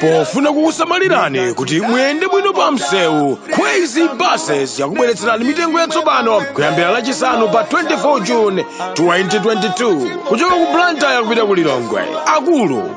pofuna kukusamalirani kuti muyende bwino pa msewu kwezy buses yakubweretserani mitengo yatsopano kuyambira lachisanu pa 24 june 2022 kuchoka ku blantyre kupita ku lilongwe akulu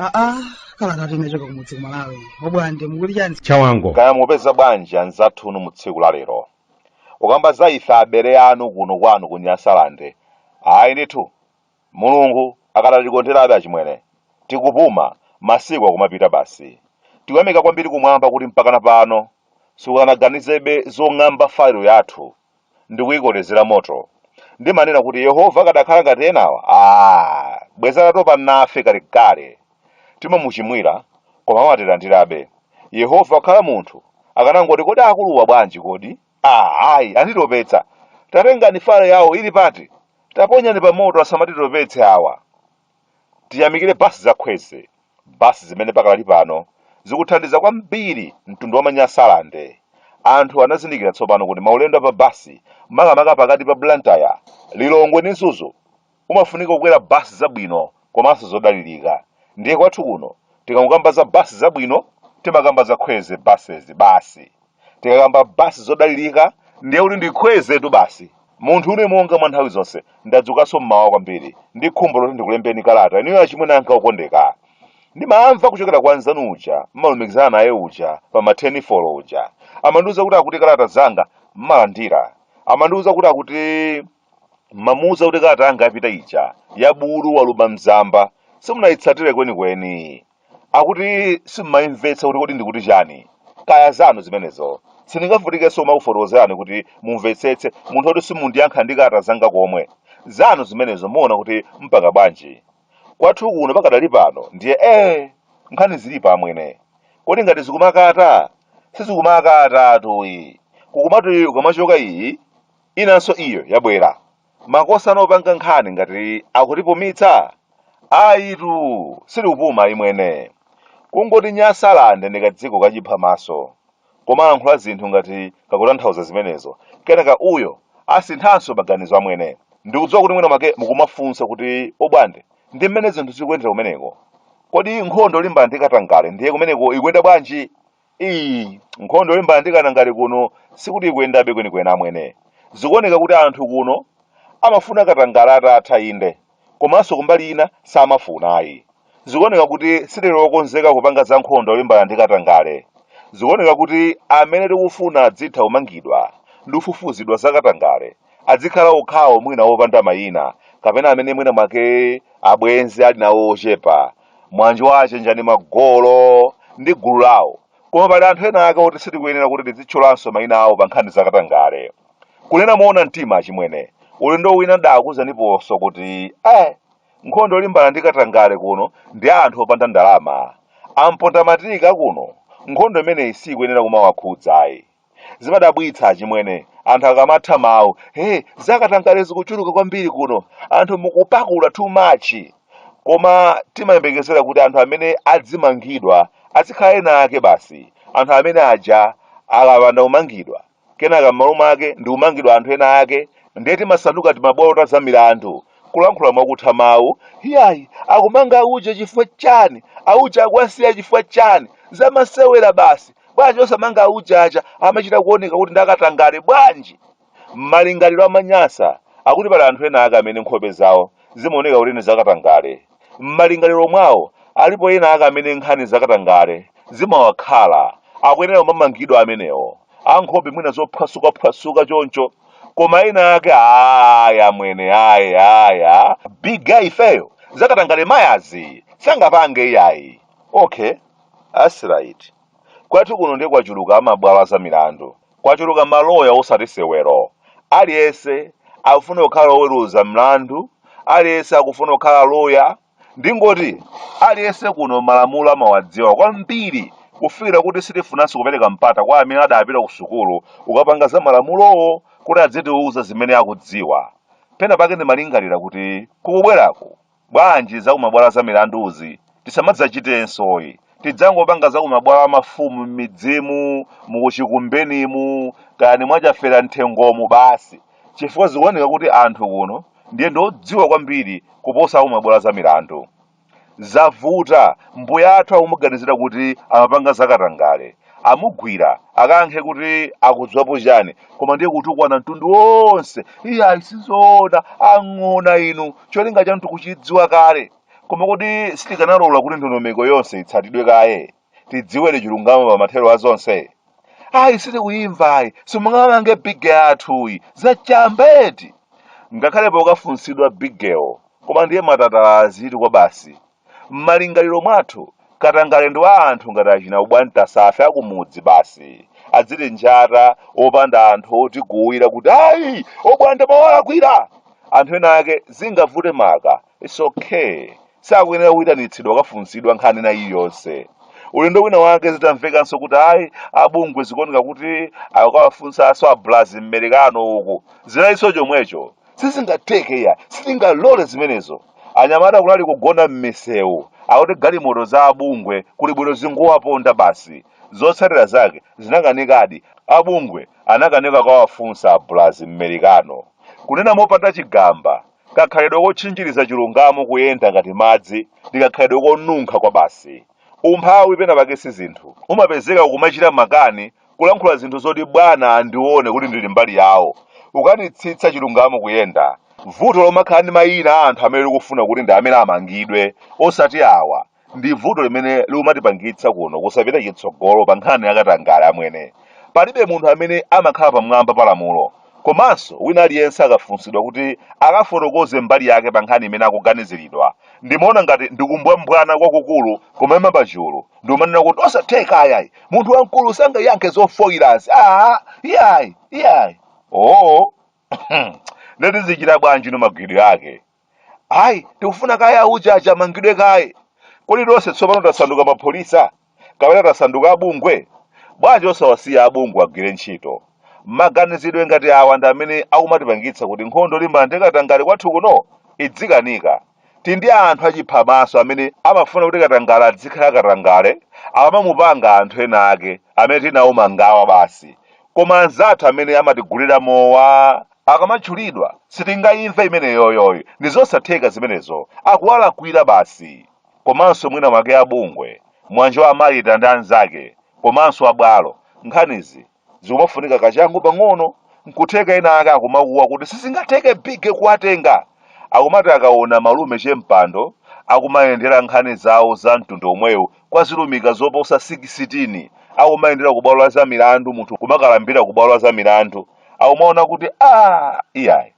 aa kalatatu inachoka kumudzi ku malawi obwande mukuti chani chawango kaya mupeza bwanji anzathu inu mu tsiku la lero ukamba za ife abale anu kuno kwanu ku nyasalande ayi ndithu Mulungu akadatikonderabe achimwene. Tikupuma, masiku akumapita basi. Tikuyamika kwambiri kumwamba kuti mpakana pano sikunaganizebe zong'amba file yathu ndikuikolezera moto. Ndimanena kuti Yehova akadakhala ngati enawa, aah, bwezi atatopa nafe kalekale. Timamuchimwira, koma amatilandirabe. Yehova wakhala munthu, akanangoti kodi akuluwa bwanji kodi? Ah, ayi anditopetsa tatengani file yawo ili pati taponyani pa moto asamatitopetse awa tiyamikire basi za kwezy basi zimene pakali pano zikuthandiza kwambiri mtundu wa manyasalande anthu anazindikira tsopano kuti maulendo a pa basi makamaka pakati pa blantyre lilongwe ndi mzuzu umafunika kukwera bus zabwino komanso zodalilika ndiye kwathu kuno tikangokamba za bus zabwino timakamba za kwezy buses basi tikakamba bus zodalilika ndiye kuti ndi kwezytu basi munthu une monga mwa nthawi zonse ndadzukanso mmawa kwambiri ndi khumbo loti ndikulembereni kalata inuyo achimwene anga okondeka ndimamva kuchokera kwa nzanu uja mmalumikizana naye uja pa matenifolo uja amandiuza kuti akuti kalata zanga mmalandira amandiuza kuti akuti mmamuuza kuti kalata yanga yapita ija ya bulu waluba mzamba simunayitsatire kwenikweni akuti simmayimvetsa kuti kodi ndikuti chani kaya zanu zimenezo sindingavutikenso kumakufotokozerani kuti mumvetsetse munthu oti simundiyankha ndi kalata zanga komwe zanu zimenezo muona kuti mpanga bwanji kwathu kuno pakadali pano ndiye ee nkhani zilipo amwene kodi ngati zikumakata sizikumakatatu ayi kukumati ikamachoka iyi Inanso iyo yabwera. Makosana opanga nkhani ngati akutipumitsa? Ayitu, sitikupuma ayi amwene. Kungoti Nyasalande ndi kadziko kachiphamaso. Kamalankhula zinthu ngati kakutanthauza zimenezo, kenaka uyo asinthanso maganizo amwene. Ndikudziwa kuti mwina mwake mukumafunsa kuti obwande, ndi mmene zinthu zikuyendera kumeneko? Kodi nkhondo yolimbana ndi katangale ndiye kumeneko ikuyenda bwanji? Iii nkhondo yolimbana ndi katangale kuno sikuti ikuyendabe kwenikweni amwene. Zikuoneka kuti anthu kuno amafuna katangale atatha inde komanso kumbali ina samafuna ayi. Zikuoneka kuti sitili okonzeka kupanga za nkhondo yolimbana ndi katangale. Zikuoneka kuti amene tikufuna adzitha kumangidwa ndi kufufuzidwa za katangale adzikhala okhawo mwina opanda mayina kapena amene mwina mwake abwenzi ali nawo ochepa monga Wachenjani Magolo ndi gulu lawo koma pali anthu ena ake oti sitikuyenera kuti tizitchulanso mayina awo pa nkhani zakatangale kunena moona mtima achimwene ulendo wina ndakuuzaniponso kuti eh nkhondo yolimbana ndi katangale kuno ndi ya anthu opanda ndalama amponda matiki kuno nkhondo imeneyi sikuyenera kumawakhudzayi Zimadabwitsa achimwene, anthu akamatha mawu, hey, zakatangale zikuchuluka kwambiri kuno, anthu mukupakula too much. Koma timayembekezera kuti anthu amene adzimangidwa azikhala ena ake basi. Anthu amene aja akapanda kumangidwa, kenaka m'malo mwake ndikumangidwa anthu ena ake, ndiye timasanduka timabwalo ta zamilandu, kulankhula mwakutha mawu, Iyayi, akumanga auje chifukwa chani? Auje akuwasiya chifukwa chani? Zamasewera basi! Bwanji osamanga auje aja amachita kuoneka kuti ndakatangale bwanji? Malingaliro a Manyasa akuti pali anthu enaake amene nkhope zawo zimaoneka kuti ndi zakatangale. M'malingaliro mwawo, alipo ena ake amene nkhani zakatangale zimawakhala, akuyenera kumamangidwa amenewo, ankhope mwina zophwasukaphwasuka choncho, koma ena ake ayi amwene ayi ayi a big guy ifeyo zakatangale mayazi sangapange iyayi. Okay, that's right. Kwathu kuno ndiye kwachuluka amabwalo a zamilandu. Kwachuluka maloya osati sewero. Aliyense akufuna kukhala oweruza mlandu, aliyense akufuna kukhala loya. Ndingoti, aliyense kuno malamulo amawadziwa kwambiri kufikira kuti sitifunanso kupereka mpata kwa amene adapita kusukulu kukapanga za malamulowo kuti adzitiuza zimene akudziwa. Pena pake ndimalingalira kuti kukubweraku Bwanji za kumabwalo a zamilanduzi tisamadzachitensoyi. Tidzangopanga za kumabwalo a mafumu m'midzimu, mu kuchikumbenimu, kaya ni mwa Chafera Mthengomu basi chifukwa zikuoneka kuti anthu kuno ndiye ndi odziwa kwambiri kuposa a kumabwalo a zamilandu. Zavuta, mbuya athu akumuganizira kuti amapanga zakatangale amugwira akayankhe kuti akudziwapo chani koma ndiye kutukwana mtundu wonse iyayi sizoona ang'ona inu cholinga chanu tikuchidziwa kale koma kodi sitikanalola kuti ndondomeko yonse itsatidwe kaye tidziwedi chilungamo pa mathero a zonse ayi sitikuyimva ayi simungamange big wathuyi zachambeti ngakhale pokafunsidwa bigewo koma ndiye matatala ake tikuwa basi M'malingaliro mwathu, katangale ndi wa anthu ngati achina Ubwanta, ife a kumudzi basi, adzitinjata popanda anthu otiguwira kuti ayi, Obwana mwawalakwira! Anthu ena ake zingavute maka, it's ok, sakuyenera kuitanitsidwa kukafunsidwa nkhani ina iliyonse. Ulendo wina wake zitamvekanso kuti ayi, a bungwe zikuoneka kuti akawafunsanso a Blazi m'Merekano uku, zinali chomwecho. sizingatheke iyayi sitingalole zimenezo anyamata kunali kugona m'misewu akuti galimoto za abungwe kuli bwino zingowaponda basi zotsatira zake zinakanikadi abungwe anakanika kukawafunsa abulazi mmerikano kunena mopanda chigamba kakhalidwe kotchinjiriza chilungamo kuyenda ngati madzi ndi kakhalidwe konunkha kwa basi umphawi pena pake si zinthu umapezeka ukumachita makani kulankhula zinthu zoti bwana andione kuti ndili mbali yawo kukanitsitsa chilungamo kuyenda vuto lomakhala ndi mayina a anthu amene ukufuna kuti ndi amene amangidwe osati awa ndi vuto limene likumatipangitsa kuno kusapita chitsogolo pa nkhani yakatangale amwene palibe munthu amene amakhala pamwamba pa lamulo komanso wina aliyense akafunsidwa kuti akafotokoze mbali yake pa nkhani imene akuganiziridwa ndimaona ngati ndikumbwambwana kwakukulu kumaima pachulu nkumanena kuti osatheka ayayi munthu wamkulu sangayankhe zofoyirazi aa iyayi iyayi oo nde tizichita bwanji no mangidwe ake ayi tikufuna kaye auja aja amangidwe kaye kodi tonse tsopano tasanduka apolisi kapena tasanduka abungwe bwanji osawasiya abungwe agwire ntchito maganizidwe ngati awa ndi amene akumatipangitsa kuti nkhondo yolimbana ndi katangale kwathu kuno idzikanika Tili ndi anthu achiphamaso amene amafuna kuti katangale adzikhala katangale akamamupanga anthu ena ake amene tili nawo mangawa basi. Koma anzathu amene amatigulira mowa akamatchulidwa sitingaimve imeneyoyoy ndi zosatheka zimenezo akuwalakwira basi. Komanso mwina mwake a bungwe, mwa Anjoma Malita ndi anzake komanso a bwalo, nkhanizi zikumafunika kachangu pang'ono nkutheka ena ake akumakuwa kuti sizingatheke big kuwatenga akumati akaona malume che Mpando akumayendera nkhani zawo za mtundu omwewu kwa zilumika zoposa 16 akumayendera ku bwalo la za milandu munthu kumakalambira ku bwalo la za milandu akumaona kuti a iyayi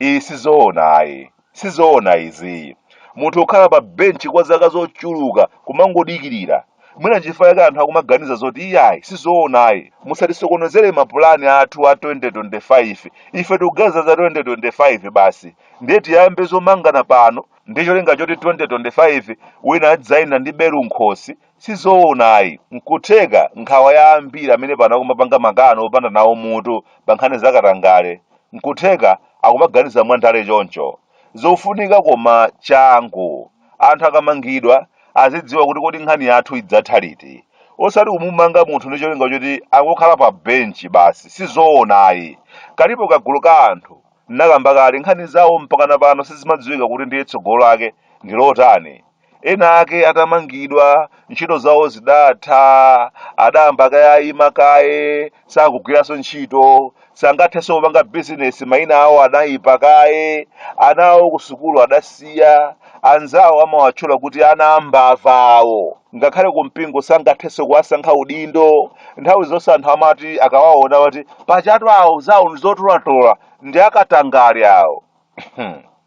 iyi sizoona ayi Sizoona izi. Munthu kukhala pa bench kwa zaka zochuluka kumangodikirira. Mwina nchifukwa chake anthu akumaganiza zoti iyayi sizoonayi. Musatisokonezere mapulani athu a 2025. Ife tikuganiza za 2025 basi. Ndiye tiyambe zomangana pano ndi cholinga choti 2025 wina adzayende ndi belu m'khosi Si zoona ayi. N'kutheka nkhawa ya ambiri amene pano akumapanga makani opanda nawo mutu pa nkhani za katangale, n'kutheka akumaganiza mwandale choncho. Zofunika koma changu. Anthu akamangidwa azidziwa kuti kodi nkhani yathu idzatha liti. Osati kumumanga munthu ndi cholinga choti angokhala pa benchi basi. Si zoona ayi. Kalipo kagulu ka anthu, ndinakamba kale, nkhani zawo mpakana pano sizimadziwika kuti ndiye tsogolo lake ndi lotani. ena ake atamangidwa ntchito zawo zidatha adayamba kayayima kaye sakugwiranso ntchito sangathenso kupanga bizinesi mayina awo adayipa kaye ana awo kusukulu adasiya anzawo amawatchula kuti ana ambava awo ngakhale kumpingo sangathenso kuwasankha udindo nthawi zonse anthu amati akawaona ati paja awo zawo ndizotolatola ndi akatangale awo